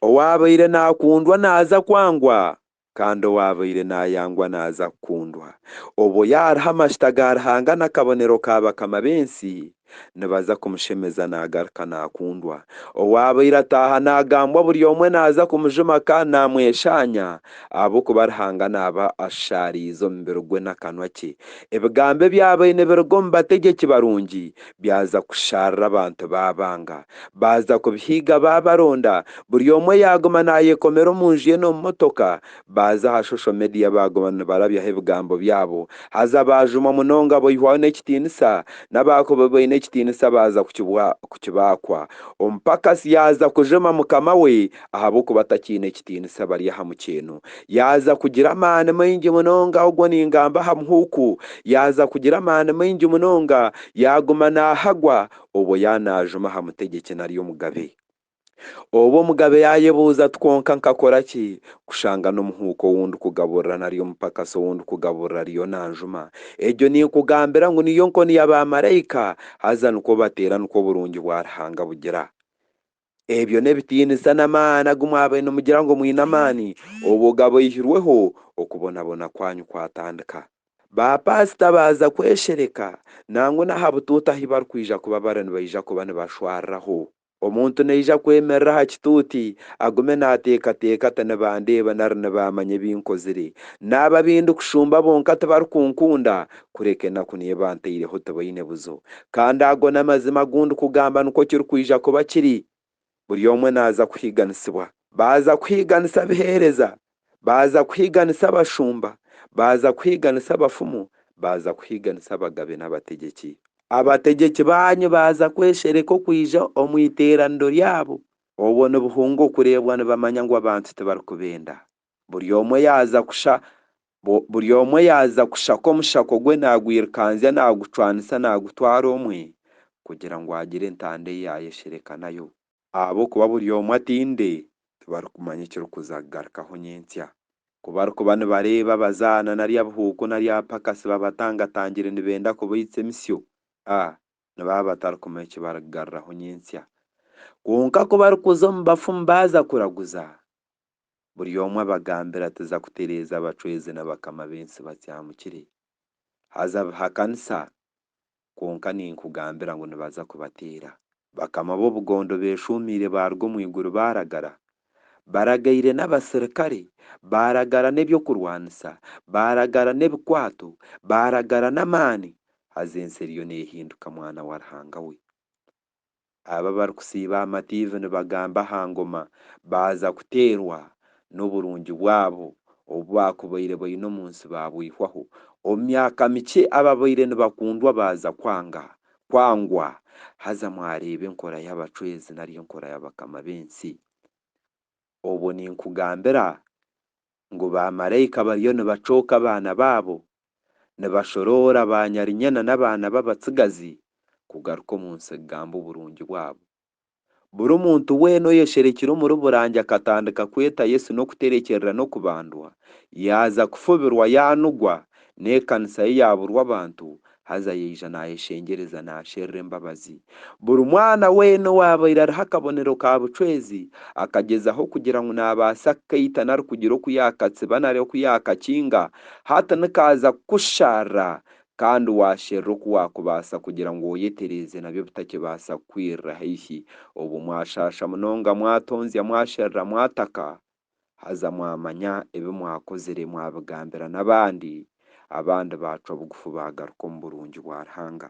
Owaabaire naakundwa naaza kwangwa, kandi owaabaire naayangwa naaza kukundwa. Obwo yaariha amajuta ga Ruhanga n'akabonero ka bakama b'ensi, nibaza kumushemeza naagaruka naakundwa. Owaabaire ataaha naagambwa buri omwe naaza kumujuma kandi naamweshaanya, ahabw'okuba Ruhanga naaba ashushaariize omubiri gwe n'akanwa kye. Ebigambo ebyabaire nibiruga omu bategyeki barungi byaza kushaarira abantu baabanga. Baaza kubihiiga baabaronda, buri omwe yaaguma naayekomera omu nju ye n'omu motoka. Baaza aha shosho mediya baaguma nibarabyaho ebigambo byabo. Haza baajumwa munonga boihwaho n'ekitiinisa, n'abaakubi baine ekitiinisa baaza kukibaakwa. Omupakasi yaaza kujuma mukama we ahabw'okuba atakiine kitiinisa bari aha mukyeeno. Yaaza kugira amaani maingi munonga, ogwo ningamba aha muhuuku, yaaza kugira amaani maingi munonga, yaaguma naahagwa obwo yaaba naajuma aha mutegyeki nari omugabe. Obwo omugabe yaayebuuza ati, Kwonka nkakora ki kushanga n'omuhuuku ou ndikugaburira nari omupakasi ou ndikugaburira ariyo naanjuma? Egyo ninkugambira ngu niyo nkoni ya baamaraika, haza nikwo bateera nikwo oburungi bwa Ruhanga bugira. Ebyo n'ebitiinisa n'amaani agu mwabaire nimugira ngu mwine amaani obwo gabaihirweho, okubonabona kwanyu kwatandika. Baapaasita baaza kweshereka, nangwa n'aha butuuti ahu barikwija kuba bari nibaija kuba nibashwariraho. Omuntu naija kwemerera aha kituuti, agume naateekateeka ati, Nibandeeba nari nibaamanya ebi nkozire? Naaba ab'endikushumba bonka tibarikunkuunda, kureka enaku niyo ebantaireho tibaine buzo. Kandi ago n'amazima agu ndikugamba nikwo kirikwija kuba kiri, buri omwe naaza kuhiiganisibwa. Baaza kuhiiganisa abiheereza, baaza kuhiiganisa abashumba, baaza kuhiiganisa abafumu, baaza kuhiiganisa abagabe n'abategyeki. Abategyeki baanyu baaza kweshereka okwija omu iteeraniro ryabo, obwo nibuhunga okureebwa nibamanya ngu abantu tibarikubenda. buri omwe yaaza kusha buri omwe yaaza kushaka omushako gwe naagwirikanzya naagucwanisa naagutwara omwe kugira ngu agire entanda ei yaayesherekanayo. Ahabw'okuba buri omwe atinde, tibarikumanya ekirikuza kugarukaho nyentsya. Ku barikuba nibareeba abazaana nari abihuuku nari abapakasi babatangatangire nibenda kubaitsa emisyo, a nibaba batarikumanya eki barikugaruraho nyentsya. Kwonka ku barikuza omu bafumu baaza kuraguza, buri omwe abagambire atiza kutereeza abacwezi na bakama b'ensi bati ahamukire, haza bihakanisa, kwonka ninkugambira ngu nibaza kubateera. Bakama b'obugondo beeshuumiire baaruga omu iguru baaragara, baragaire n'abasirikare, baaragara n'eby'okurwanisa, baaragara n'ebikwato, baaragara n'amaani, haza ensi eriyo neehinduka mwana wa Ruhanga we. abo abarikusiiba aha matiivi nibagamba aha ngoma baaza kuteerwa n'oburungi bwabo obu baakubaire baine omu nsi baabwihwaho. Omu myaka mikye ababaire nibakundwa baaza kwanga, kwangwa, haza mwareeba enkora y'abacwezi nari enkora y'abakama b'ensi. Obwo ninkugambira ngu baamaraika bariyo nibacooka abaana baabo, nibashoroora baanyarinyana n'abaana b'abatsigazi kugaruka omu nsi kugamba oburungi bwabo. Buri muntu weena oyesherekire omuri Burange akatandika kweta Yesu n'okuterekyerera n'okubandwa, yaaza kufubirwa yaanugwa, n'ekanisa ye yaaburwa abantu, haza yaija naayeshengyereza naasherura embabazi. Buri mwana weena owaabaire ariho akabonero ka bucwezi, akagyezaho kugira ngu naabaasa kukaita nari kugira oku yaakatsiba nari oku yaakakinga, hati nikaaza kukusharira kandi waasherura oku waakubaasa kugira ngu oyetereeze nabyo bitakibaasa kukwirira haihi. Obwo mwashaasha munonga, mwatonzya, mwasherura, mwataka, haza mwamanya ebi mwakozire mwabigambira n'abandi, abandi baacwa bugufu baagaruka omu burungi bwa Ruhanga.